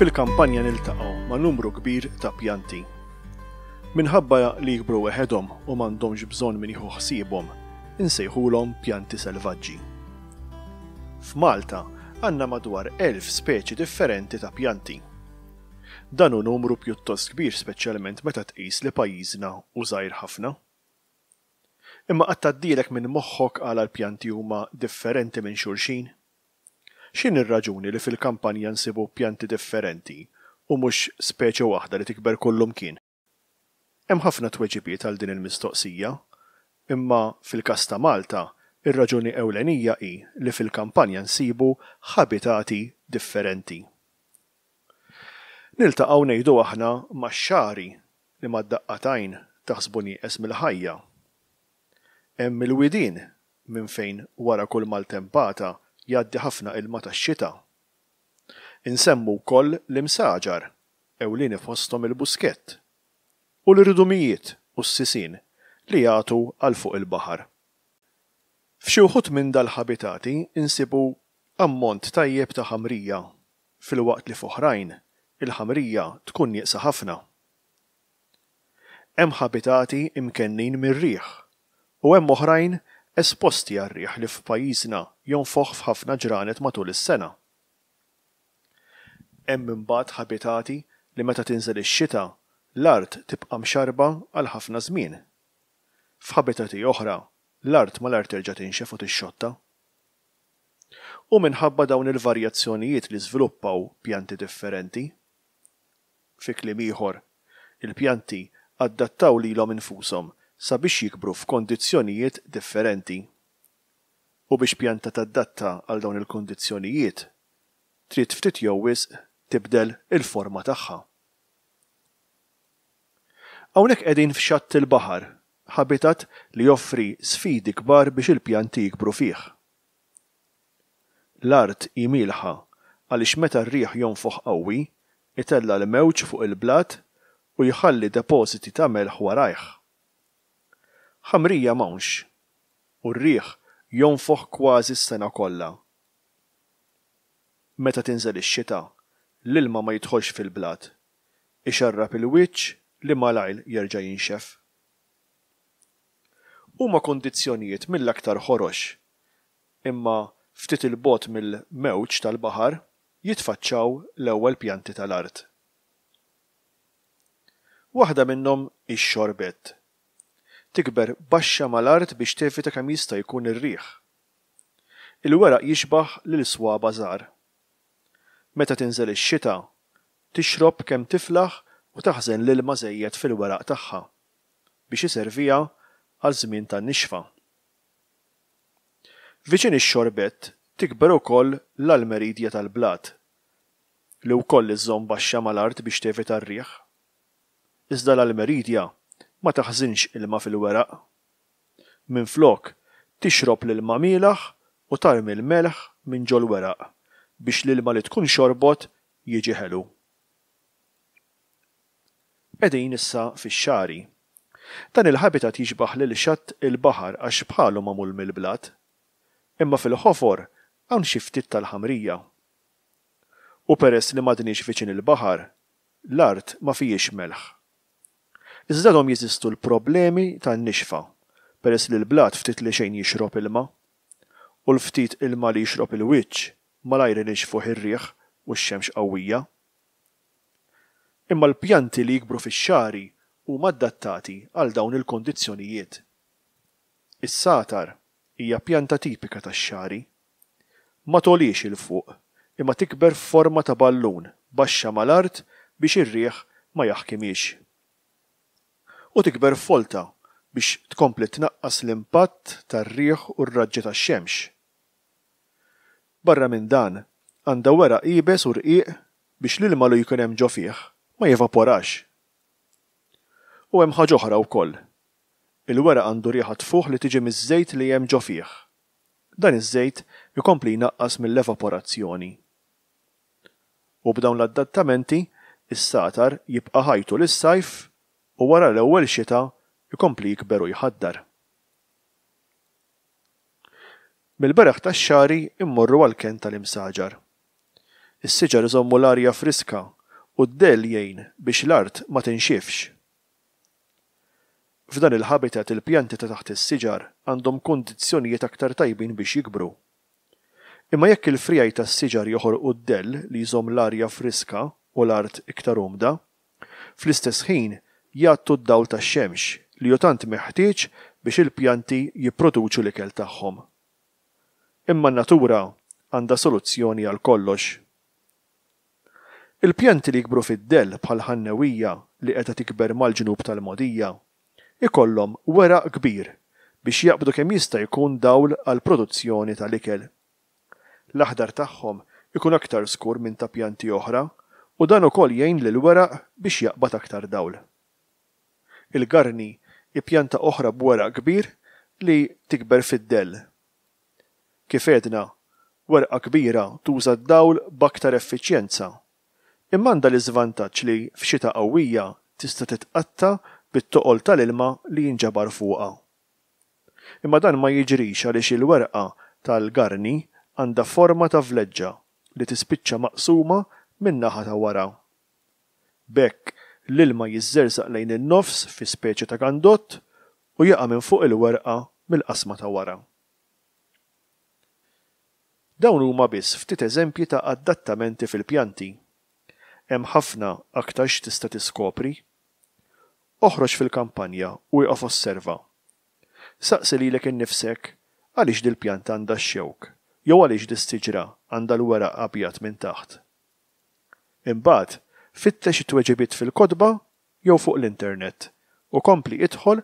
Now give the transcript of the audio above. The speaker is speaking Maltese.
Fil-kampanja niltaqgħu ma' numru kbir ta' pjanti. Minħabba li jikbru weħedhom u m'għandhomx bżonn min jieħu ħsiebhom, insejħulhom pjanti selvaġġi. F'Malta għandna madwar elf speċi differenti ta' pjanti. Dan hu numru pjuttost kbir speċjalment meta tqis li pajjiżna hu żgħir ħafna. Imma qatt għaddielek minn moħħok għala l-pjanti huma differenti minn xulxin? X'inhi r-raġuni li fil-kampanja nsibu pjanti differenti u mhux speċi waħda li tikber kullumkien? Hemm ħafna tweġibiet għal din il-mistoqsija, imma fil-każ ta' Malta, ir-raġuni ewlenija hi li fil-kampanja nsibu ħabitati differenti. Niltaqgħu ngħidu aħna max-xagħri li mad-daqqa t'għajn taħsbu nieqes mill-ħajja. Hemm il-widien minn fejn wara kull maltempata jgħaddi ħafna ilma tax-xita. Insemmu wkoll l-imsaġar, ewlieni fosthom il-buskett, u l-irdumijiet u s-sisien li jagħtu għal fuq il-baħar. F'xi wħud minn dal-ħabitati nsibu ammont tajjeb ta' ħamrija filwaqt li f'oħrajn il-ħamrija tkun nieqsa ħafna. Hemm ħabitati imkennin mir-riħ u hemm oħrajn esposti għar-riħ li f'pajjiżna jonfoħ f'ħafna ġranet matul is-sena. Hemm imbagħad ħabitati li meta tinżel ix-xita l-art tibqa' mxarrba għal ħafna żmien. F'ħabitati oħra l-art malajr terġa' tinxef u tixxotta. Hu minħabba dawn il-varjazzjonijiet li żviluppaw pjanti differenti. Fi kliem ieħor, il-pjanti adattaw lilhom infushom sabiex jikbru f'kondizzjonijiet differenti. U biex pjanta tadatta għal dawn il-kondizzjonijiet, trid ftit jew wisq tibdel il-forma tagħha. Hawnhekk qegħdin f'xatt il-baħar, ħabitat li joffri sfidi kbar biex il-pjanti jikbru fih. L-art hi mielħa għaliex meta r-riħ jonfoħ qawwi, itella' l-mewġ fuq il-blat u jħalli depożiti ta' melħ warajh. Ħamrija m'hawnx, u r-riħ jonfoħ kważi s-sena kollha. Meta tinżel ix-xita, l-ilma ma jidħolx fil-blat, ixarrab il-wiċċ li malajr jerġa' jinxef. Huma kundizzjonijiet mill-aktar ħorox, imma ftit 'il bogħod mill-mewġ tal-baħar jitfaċċaw l-ewwel pjanti tal-art. Waħda minnhom hi x-xorbett. Tikber baxxa mal-art biex tevita kemm jista' jkun ir-riħ. Il-weraq jixbah lil swaba' żgħar. Meta tinżel ix-xita, Tixrob kemm tiflaħ u taħżen l-ilma żejjed fil-weraq tagħha biex iserviha għal żmien ta' nixfa. Viċin ix-xorbett tikber ukoll l-Almeridja tal-blat, li wkoll iżżomm baxxa mal-art biex tevita r-riħ. Iżda l-Almeridja ma taħżinx ilma fil-weraq. Minflok, tixrob l-ilma mielaħ u tarmi l-melħ minn ġol-weraq biex l-ilma li tkun xorbot jiġi ħelu. Qegħdin issa fix-xagħri. Dan il-habitat jixbah lil xatt il-baħar għax bħalu magħmul mill-blat. Imma fil-ħofor hawn xi ftit tal-ħamrija. U peress li m'għadniex viċin il-baħar, l-art ma fihiex melħ. Iżda għadhom jeżistu l-problemi tan-nixfa peress li l-blat ftit li xejn jixrob ilma. U l-ftit ilma li jixrob il-wiċċ malajr inixfuh ir-riħ u x-xemx qawwija. Imma l-pjanti li jikbru fix-xagħri huma adattati għal dawn il-kondizzjonijiet. Is-sagħtar hija pjanta tipika tax-xagħri. Ma togħliex 'il fuq imma tikber f'forma ta' ballun baxxa mal-art biex ir-riħ ma jaħkimhiex. U tikber f'folta biex tkompli tnaqqas l-impatt tar-riħ u r-raġġi tax-xemx. Barra minn dan, għandha weraq iebes u rqiq biex l-ilma lu jkun hemm ġo fih ma jevaporax. U hemm ħaġa oħra wkoll. Il-weraq għandu riħa tfuħ li tiġi miż-żejt li hemm ġo fih. Dan iż-żejt ikompli jnaqqas mill-evaporazzjoni. U b'dawn l-addattamenti, is-satar jibqa' ħaj tul is-sajf u wara l-ewwel xita jkompli jikber u jħaddar. Mill-beraħ tax-xagħri mmorru għall-kenn tal-imsaġar. Is-siġar iżommu l-arja friska u d-dell jgħin biex l-art ma tinxifx. F'dan il-habitat il-pjanti ta' taħt is-siġar għandhom kundizzjonijiet aktar tajbin biex jikbru. Imma jekk il-friegħi tas-siġar joħorqu d-dell li jżomm l-arja friska u l-art iktar umda, fl-istess ħin jgħattu d-dawl tax-xemx li hu tant meħtieġ biex il-pjanti jipproduċu l-ikel tagħhom. Imma n-natura għandha soluzzjoni għal kollox. Il-pjanti li jikbru fid-dell bħal ħannewija li qiegħda tikber mal-ġnub tal-mogħdija, ikollhom weraq kbir biex jaqbdu kemm jista' jkun dawl għall-produzzjoni tal-ikel L-aħdar tagħhom ikun aktar skur minn ta' pjanti oħra u dan ukoll jgħin lill-weraq biex jaqbad aktar dawl. Il-garni hi pjanta oħra b'weraq kbir li tikber fid-dell. Kif għedna, werqa kbira tuża d-dawl b'aktar effiċjenza, imma għandha l-iżvantaġġ li f'xita qawwija tista' titqatta' bit-toqol tal-ilma li jinġabar fuqha. Imma dan ma jiġrix għaliex il-werqa tal-garni għandha forma ta' vleġġa li tispiċċa maqsuma min-naħa ta' wara. B'hekk, l-ilma jiżżerżaq lejn in-nofs fi speċi ta' gandott u jaqa' minn fuq il-werqa mill-qasma ta' wara. Dawn huma biss ftit eżempji ta' adattamenti fil-pjanti. Hemm ħafna aktar x'tista' tiskopri. Oħroġ fil-kampanja u ieqaf osserva. Saqsi lilek innifsek, 'Għaliex dil-pjanta għandha x-xewk, jew għaliex dis-siġra għandha l-weraq abjad minn taħt? Imbagħad, fittex it-tweġibiet fil-kotba jew fuq l-internet, u kompli idħol